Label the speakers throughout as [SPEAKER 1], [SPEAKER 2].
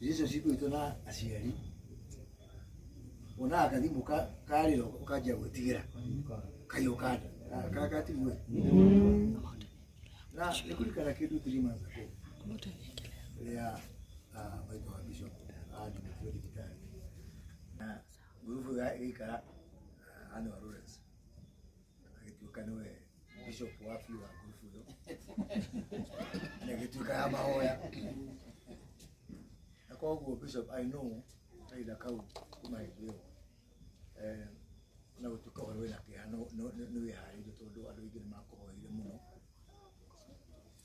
[SPEAKER 1] relationship itũ na aciari wonaga kathimũ ka- karĩra ũkanjia gwĩtigĩra kahiũ kanda kagatigwe na nĩkũrikana kĩndũ three months ago rĩrĩa ah, maitũ wa bishop andĩkĩtwo thibitarĩ na ngurubu ĩyo ĩgĩikara ah, Annual Lawrence agĩtuĩka nĩwe bishop wa biũ wa ngurubu ĩyo na ĩgĩtuĩka ya mahoya na koguo bishop i know kahinda kau kuma hĩndĩ ĩyo eh, na gũtuĩka ũhoro wĩna kĩeha nĩ wĩharĩirio tondũ andũ aingĩ nĩ makũhoire mũno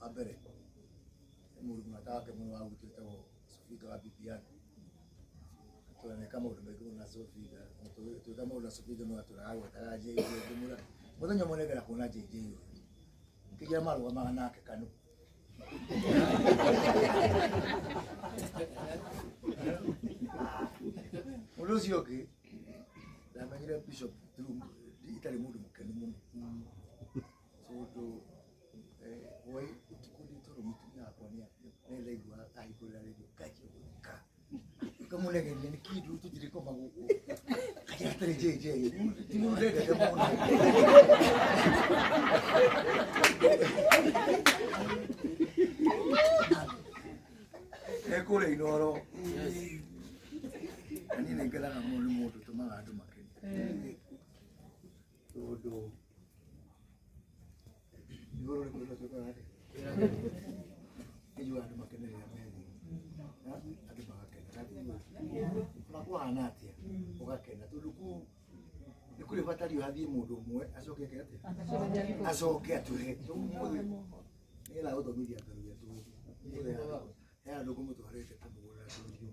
[SPEAKER 1] wa mbere nĩ mũndũ mũrata wake mũno wa gwitũ wĩtagwo Sofinga wa Bibiani twaneka maũndũ maingĩ mũno na Sofinga twĩka maũndũ na Sofinga no atũraga gwetaga JJ ngĩmwĩra mũthenya ũmwe nĩngera kuona JJ ũyũ kĩgia marũgamaga nake kanũ ũndũ ũcio ũngĩ ndamenyire bishop through- itarĩ mũndũ mũkenu mũno tondũ wai ũtukũ nĩ toro mũtumia wakwa nĩ nĩ ndaigua ahingũrĩra redio nganjia gũtheka ngamũnegeria nĩ kĩndũ tũtirĩ koma gũkũ kanjĩra atĩrĩ jj ti mũndũ ndendete mũno ekũrĩa inoro na niĩ nĩ ngenaga mũno nĩ mũndũ ũtũmaga andũ makene tondũ igũrũ nĩ kwenda twĩkaga atĩ ijua andũ makenerera methi na andũ magakena ona kũhana atĩa ũgakena tondũ kuu nĩ kũrĩ batario hathiĩ mũndũ ũmwe acoke eke atĩa acoke atũhe ũmũthĩ nĩgetha gũthomithia ngaruria tũĩ he andũ kũmũtwarĩte kũmũgũrĩra tũirio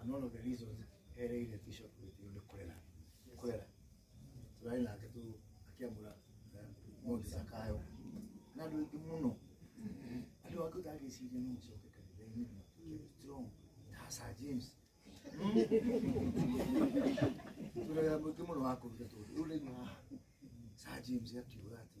[SPEAKER 1] And one of the reasons ereire bishop witũ nĩ kũrera kũrera tũrarĩ nake tu akĩamũra eh, mũndũ cakayo na andũ aingĩ mũno andũ angĩ ũtangĩciria no macoke kanitha-inĩ matuĩke strong ta Sir James tũrera mũingĩ mũno wa kũruta tũndũ rĩu rĩu haha Sir James akiuga atĩ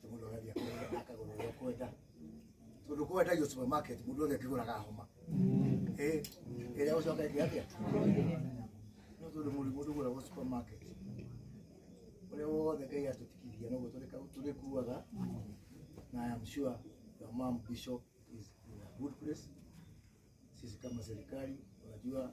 [SPEAKER 1] Tondũ mũndũ agathiĩ akagũra- akagũra ũrĩa ũkwenda tondũ kwendagio supermarket mũndũ wothe akĩgũraga homa Eh, ĩrĩa gũcoka ĩngĩ atĩa no tondũ mũndũ mũndũ ũgũragwo supermarket ũrĩa wothe ngai atũtikithia noguo tũrĩka- tũrĩkuaga na I am sure your mom bishop is in a good place sisi kama serikali unajua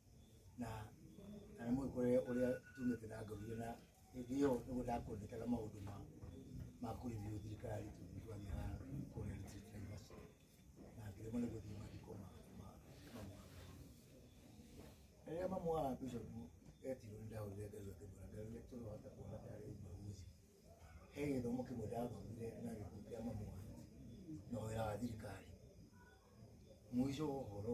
[SPEAKER 1] na na nĩ mũgĩkore ũrĩa tumĩte na ngorire na hĩndĩ ĩyo nĩguo ndakwendekaga maũndũ ma ma kũrithio thirikari tondũ twathiaga kũrĩa district university na ngĩremwo nĩ gũthiĩ mathiko ma ma ma mwana rĩrĩa mamu wa bishop etirwo nĩ ndahũrire ngai wake mbura ngai ũrĩa tũrohota kuona tarĩ mbaguzi he gĩthomo kĩmwe ndathomire na gĩkundi kĩa mamu wanyu na wĩra wa thirikari mũico wa ũhoro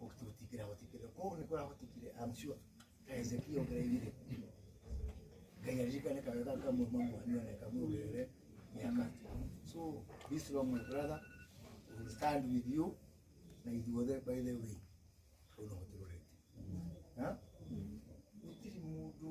[SPEAKER 1] gũtũtikĩra gũtikĩra kũu nĩ kũra gũtikire I'm sure Hezekia ũgereire Ngai aririkane kawega kamwe mamwanio na kamwe ũgerere miaka so be strong my brother we will stand with you na ithuothe by the way ũno ũtũrorete ha gũtirĩ mũndũ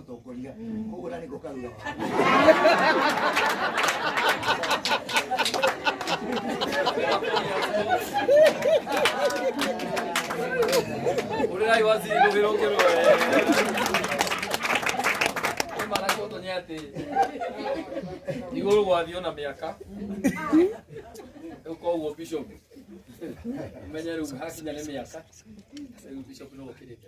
[SPEAKER 1] tongoria
[SPEAKER 2] koguo nani ngokaruga Ulirai wazi nduviro ngero. Mara koto nyati. Iguru gwa thio na miaka. Uko uo bishop. Umenye ru hakinya ne miaka. Ru bishop no kirite.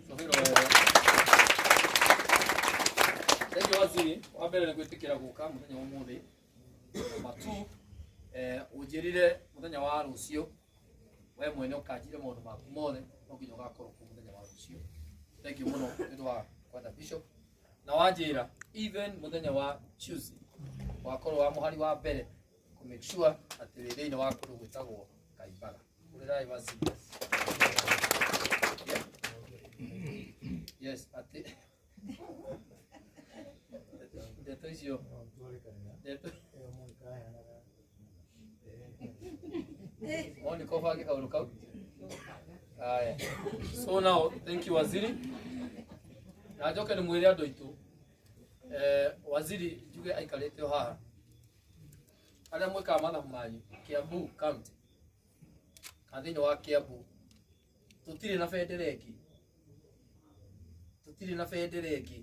[SPEAKER 2] Thank you waziri, wa mbere nĩ gwĩtĩkĩra gũka mũthenya wa ũmũthĩ. Number two, eh, ũnjĩrire mũthenya wa rũciũ we mwene ũkanjire maũndũ maku mothe no nginya ũgakorwo kuo mũthenya wa rũciũ. Thank you mũno nĩ ũndũ wa kwenda bishop. Na wanjĩra even mũthenya wa Tuesday wakorwo wa mũhari wa mbere kũ make sure atĩ wĩ thĩinĩ wa kũndũ gwĩtagwo Kaimbaga. Hũrĩrai wa serious. Yes, atĩ ndeto icio ndeto moni ko bange kaundu kau aya so now thank you waziri na njoke nĩ mwĩre andũ aitũ eh, waziri njuge aikarĩte o haha arĩa mwĩkaga mathabu manyu kiambu county kana thĩinĩ wa kiambu tũtirĩ na bendera ĩngĩ tũtirĩ na bendera ĩngĩ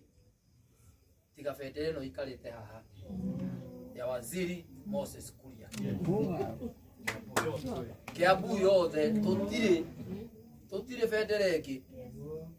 [SPEAKER 2] tiga bendera ĩno ikarĩte haha ya waziri moses kuria kiambu yothe tũtirĩ tũtirĩ bendera ĩngĩ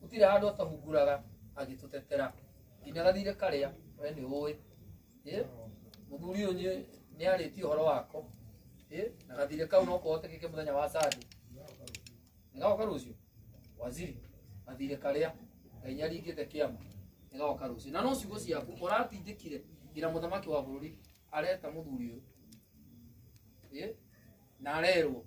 [SPEAKER 2] gutire handu atahunguraga agitutetera nginya gathire karia we ni uwi eh muthuri uyu ni ni ariti horo wako eh na gathire kau no kuhotekeke muthenya wa sadi ngaoka rucio waziri gathire karia ngai nyaringite kiama ngaoka rucio na no ciugo ciaku uratindikire ngira muthamaki wa bururi areta muthuri uyu eh na arerwo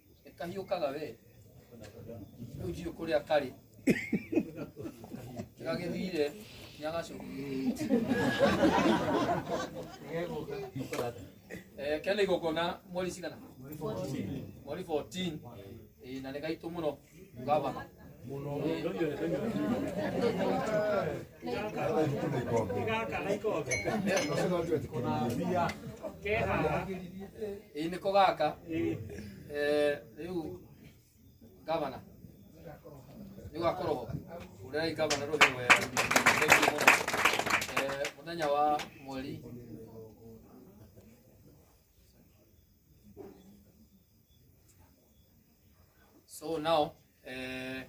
[SPEAKER 2] kahiũ kaga we rĩu ndiũ kũrĩa karĩ gagĩthire nĩ agacoka Eh, kena igongona mweri cigana mweri 14 Eh, na nĩ gaitũ mũno Ngavana. Ĩĩ nĩko gaka. Eh, Rĩu ngavana nĩ ũgakorwo ho ũrĩrai ngavana rũhĩ wega Thank you mũno. Eh, mũthenya wa mweri So now eh,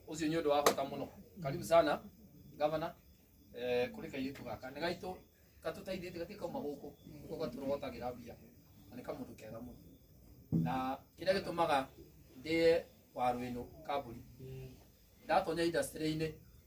[SPEAKER 2] ucio nĩ ũndũ wa bata mũno karibu sana gavana eh, kũrĩ kairĩtu gaka nĩ gaitũ gatũteithĩtie gatirĩ kauma gũkũ gũkũ gatũrogotagĩra mbia na nĩ kamũndũ kega mũno na kĩrĩa gĩtũmaga ndĩe waru ĩno kambũri ndatonya industry-inĩ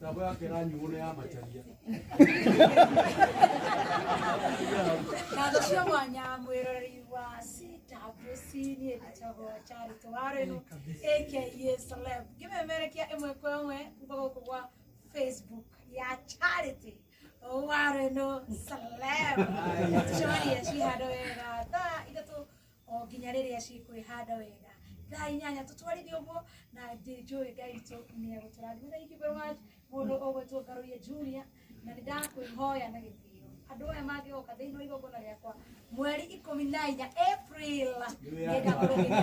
[SPEAKER 3] Tabo ya kera nyugo ne ya macharia.
[SPEAKER 4] Kago cio mwanya mwiroreri wa CWC-inĩ gĩtagwo Charity Warren aka Celeb ngĩmemerekia ĩmwe kwa ĩmwe kuma gũkũ gwa Facebook ya Charity Warren Celeb tũcemanie cihandũ wega thaa ithatũ o nginya rĩrĩa cikwĩhanda wega thaa inyanya tũtwarithie ũguo na njĩ- njũĩ ngai witũ nĩ egũtũrathima thank you very much mũndũ ũgwĩtwo ngarũiye junior na nĩ ndakwĩhoya na gĩtĩo andũ aya mangĩgoka thĩinĩ wa igongona rĩakwa mweri ikũmi na inya april nĩ ndakũrũgĩra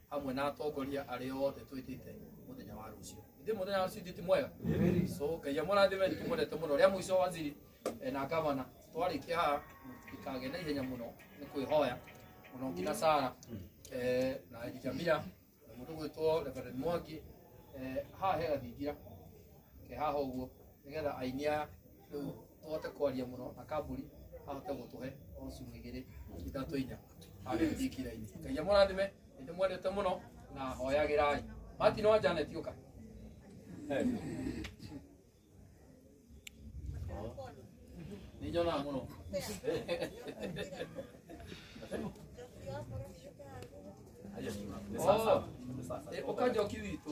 [SPEAKER 2] hamwe na atongoria arĩa othe twĩtĩte mũthenya wa rũciũ ithuĩ mũthenya wa rũciũ ti mwega so ngai amũrathime nĩ tũmwendete mũno rĩa mũico waziri eh, na gavana twarĩkia haha ikage na ihenya mũno nĩ kwĩhoya mũno nginya sara eh, na elijamia na mũndũ gwĩtwo reverend mwangi eh, haha he gathingira ke haha ũguo nĩgetha aini aya rĩu tũhote kwaria mũno na kamburi ahote gũtũhe o ciugo igĩrĩ ithatũ inya agĩthiĩ kirainĩ ngai amũrathime nĩ mwendete mũno na hoyagĩrai martin wa janet ũka nĩ nyonaga mũno Haya, ni sasa. Oh, eh, ũkanjoki witũ